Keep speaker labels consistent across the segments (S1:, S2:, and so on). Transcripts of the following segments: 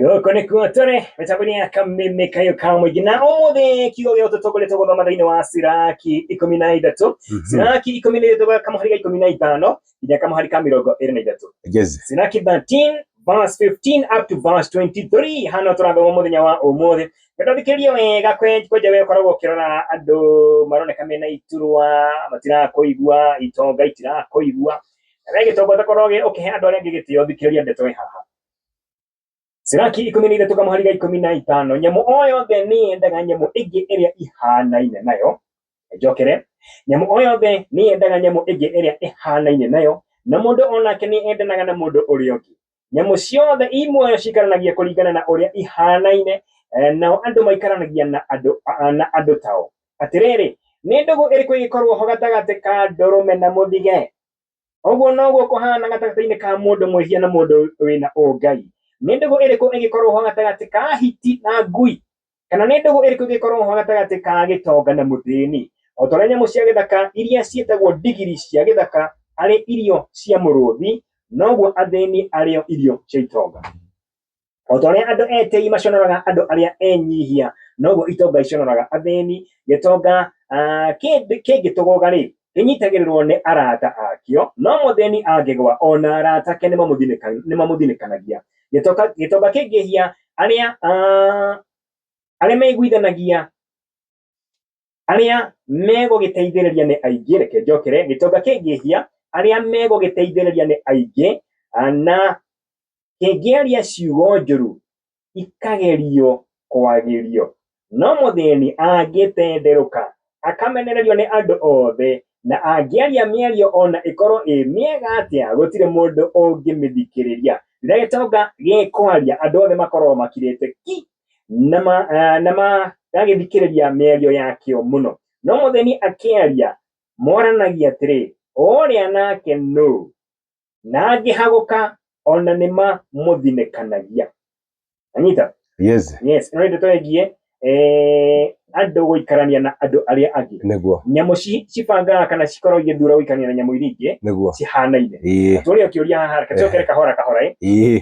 S1: gũkũ nĩkuo tũrĩ mĩtambo-inĩ ya kameme kayo ka mũingĩ na ũmũthĩ kiugo gĩa ũtũtũ kũrĩ tũgũthoma thĩinĩ wa siraki ikũmi na ithatũ siraki ikũmi na ithatũ ga kamũhari ga ikũmi na ithano nginya kamũhari ka mĩrongo ĩrĩ na ithatũ Yes. siraki 13 verse 15 up to verse 23 hano tũrathoma mũthenya wa ũmũthĩ ngatũthikĩrĩrie wega kwe- kwenja we ũkoragwo ũkĩrora andũ maroneka mena iturwa matirakũigua itonga itirakũigua we gĩtongoria korwo ũkĩhe andũ arĩa angĩ gĩtĩo thikĩrĩria ndeto ĩ haha Siraki ikũmi na ithatũ kamũhari ga ikũmi na itano nyamũ o yothe nĩ yendaga nyamũ ĩngĩ ĩrĩa ihanaine nayo njokere nyamũ o yothe nĩ yendaga nyamũ ĩngĩ ĩrĩa ĩhanaine nayo na mũndũ onake nĩ endanaga na mũndũ ũrĩa ũngĩ nyamũ ciothe i muoyo cikaranagia kũringana na ũrĩa ihanaine eh, nao andũ maikaranagia na andũ na andũ tao atĩrĩrĩ nĩ ndũgũ ĩrĩkũ ĩgĩkorwo ho gatagatĩ ka ndũrũme na mũthige ũguo noguo kũhana gatagatĩ-inĩ ka mũndũ mwĩhia na mũndũ wĩna ũngai nĩ ndũgũ ĩrĩkũ ĩgĩkorwo ho gatagatĩ ka hiti na ngui Kana nĩ ndũgũ ĩrĩkũ ĩngĩkorwo ho gatagatĩ ka gĩtonga na mũthĩni? O ta ũrĩa nyamũ cia gĩthaka iria ciĩtagwo ndigiri cia gĩthaka arĩ irio cia mũrũthi, noguo athĩni arĩo irio cia itonga. O ta ũrĩa andũ etĩi maconoraga andũ arĩa enyihia, noguo itonga iconoraga athĩni. Gĩtonga kĩngĩtũgũga-rĩ, kĩnyitagĩrĩrwo nĩ arata akĩo no mũthĩni angĩgwa ona arata ake nĩ mamũthinĩkanagia gĩtonga kĩngĩhia arĩa arĩa meiguithanagia arĩa megũgĩteithĩrĩria nĩ aingĩ reke njokere gĩtonga kĩngĩhia arĩa megũgĩteithĩrĩria nĩ aingĩ na kĩngĩaria ciugo njũru ikagerio kwagĩrio. No mũthĩni angĩtenderũka, akamenererio nĩ andũ othe, na angĩaria mĩario ona ĩkorwo ĩ mĩega atĩa, gũtirĩ mũndũ ũngĩmĩthikĩrĩria. Rĩrĩa gĩtonga gĩkwaria, andũ othe makoragwo makirĩte ki, na ma, eh, na magagĩthikĩrĩria mĩario yakĩo mũno. No mũthĩni akĩaria, moranagia atĩrĩ, ũũrĩa nake nũ? na angĩhagũka ona nĩ mamũthinĩkanagia anyita yes yes ĩno nĩ ndeto ĩgiĩ eh, andũ gũikarania na andũ arĩa angĩ nĩguo nyamũ ci- cibangaga kana cikorwo igĩthura gũikarania na nyamũ iria ingĩ nĩguo cihanaine ĩĩ tũrĩ kĩũria haha reke tũcokere kahora kahora ĩ ĩĩ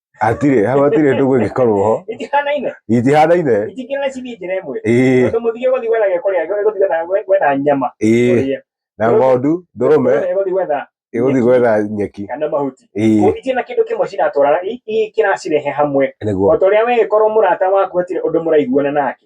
S1: Atirĩ, hau atirĩ ndũgũ ĩngĩkorwo ho. Itihanaine. Itihanaine. Itikĩrĩ cibi njĩra ĩmwe. Ĩĩ. Tondũ mũthige gũthiĩ gwetha gĩa kũrĩa, gũthiĩ gwetha gwetha nyama. Ĩĩ. Na ng'ondu, ndũrũme. Ĩgũthiĩ gwetha. Ĩgũthiĩ gwetha nyeki. Kana mahuti. Ĩĩ. Koguo itirĩ na kĩndũ kĩmwe ciratwarana, kĩracirehe hamwe. Nĩguo. O ta ũrĩa wee korwo mũrata waku hatirĩ ũndũ mũraiguana nake.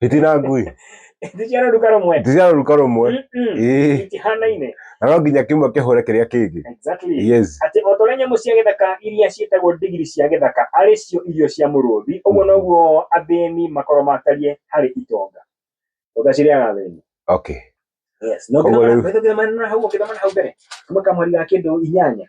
S1: itina ngui Ĩndĩ ciana ruka rũmwe ndiciara ruka rumwe Mm-mm. ĩĩ itihanaine na no nginya kimwe kihũre kiria kingi exactly yes atĩ o ta ũrĩa nyamũ cia gĩthaka iria ciĩtagwo ndigiri cia gĩthaka arĩ cio irio cia mũrũthi ũguo noguo athĩni makoro matariĩ harĩ itonga itonga cirĩaga athĩni okay Yes. No Koguo rĩu- ũkĩthoma na hau ũkĩthoma na hau mbere kuma kamweri ga kĩndũ inyanya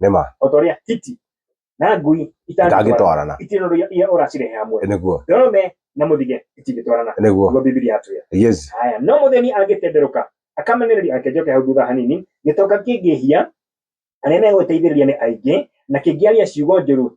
S1: nĩma o ta ũrĩa hiti na ngui itangĩtwarana itangĩtwarana itirĩ na ũndũ iria ũracirehe hamwe nĩguo ndome na mũthige itingĩtwarana nĩguo nĩguo bibilia atwĩra yes haya no mũthĩni angĩtenderũka akamenereria ake njoke hau thutha hanini gĩtonga kĩngĩhia arĩa megũteithĩrĩria nĩ aingĩ na kĩngĩaria ciugo njũru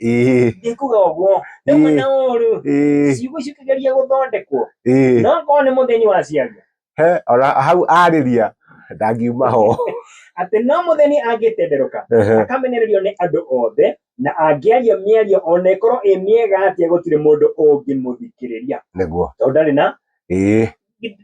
S1: ĩĩ, ndikuga ũguo nĩ Ĩĩ. mwena ũru ĩĩ, ciugo cikĩgeria gũthondekwo ĩĩ. no korwo nĩ mũthĩni waciaria He, ona hau arĩria ndangiuma ho atĩ no mũthĩni angĩtenderũka Ehe. akamenererio nĩ andũ othe na angĩaria mĩario ona ĩkorwo ĩ mĩega atĩa gũtirĩ mũndũ ũngĩmũthikĩrĩria nĩguo tondũ ndarĩ na ĩĩ,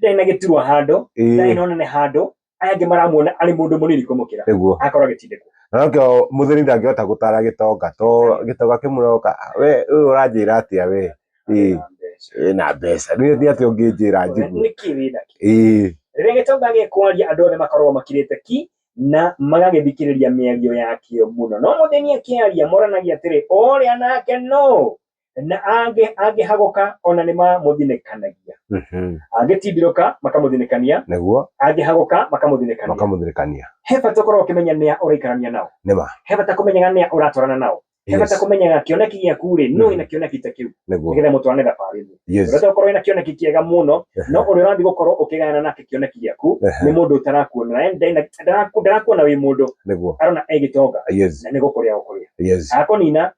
S1: ndarĩ na gĩturwa handũ ndarĩ ĩĩ, na ũnene handũ aya angĩ maramuona arĩ mũndũ mũnini kũmũkĩra nĩguo agakorwo agĩtindĩkwo na nokĩo mũthĩni ndangĩhota gũtara gĩtonga to gĩtonga kĩmũroka we ũyũ ũranjĩra atĩa we ĩĩ ĩĩ, na mbeca rĩu nĩ atĩ ũngĩnjĩra njigu nĩkĩ wĩna kĩ ĩĩ rĩrĩa gĩtonga gĩkwaria andũ othe makoragwo makirĩte ki na magagĩthikĩrĩria mĩario yakĩo mũno no mũthĩni akĩaria moranagia atĩrĩ ũrĩa nake no na angĩ angĩhagũka ona nĩ mamũthinĩkanagia Mhm. angĩtindirũka makamũthinĩkania nĩguo angĩhagũka makamũthinĩkania makamũthirĩkania he bata ũkorwo ũkĩmenya nĩa ũraikarania nao nĩma he bata kũmenyaga nĩa ũratwarana nao he Yes. bata kũmenyaga kĩoneki gĩaku rĩ nũ Mhm. ĩna kĩoneki ta kĩu nĩguo nĩgetha mũtwarane thabarĩ ĩmwe yes ũrenda gũkorwo ĩna kĩoneki kĩega mũno no ũrĩa ũrathiĩ gũkorwo ũkĩgayana nake kĩoneki gĩaku Ehe. nĩ mũndũ ũtarakuona yani ndena- ndaraku- ndarakuona wĩ mũndũ nĩguo arona egĩtonga yes na nĩ gũkũrĩa gũkũrĩa yes akũnina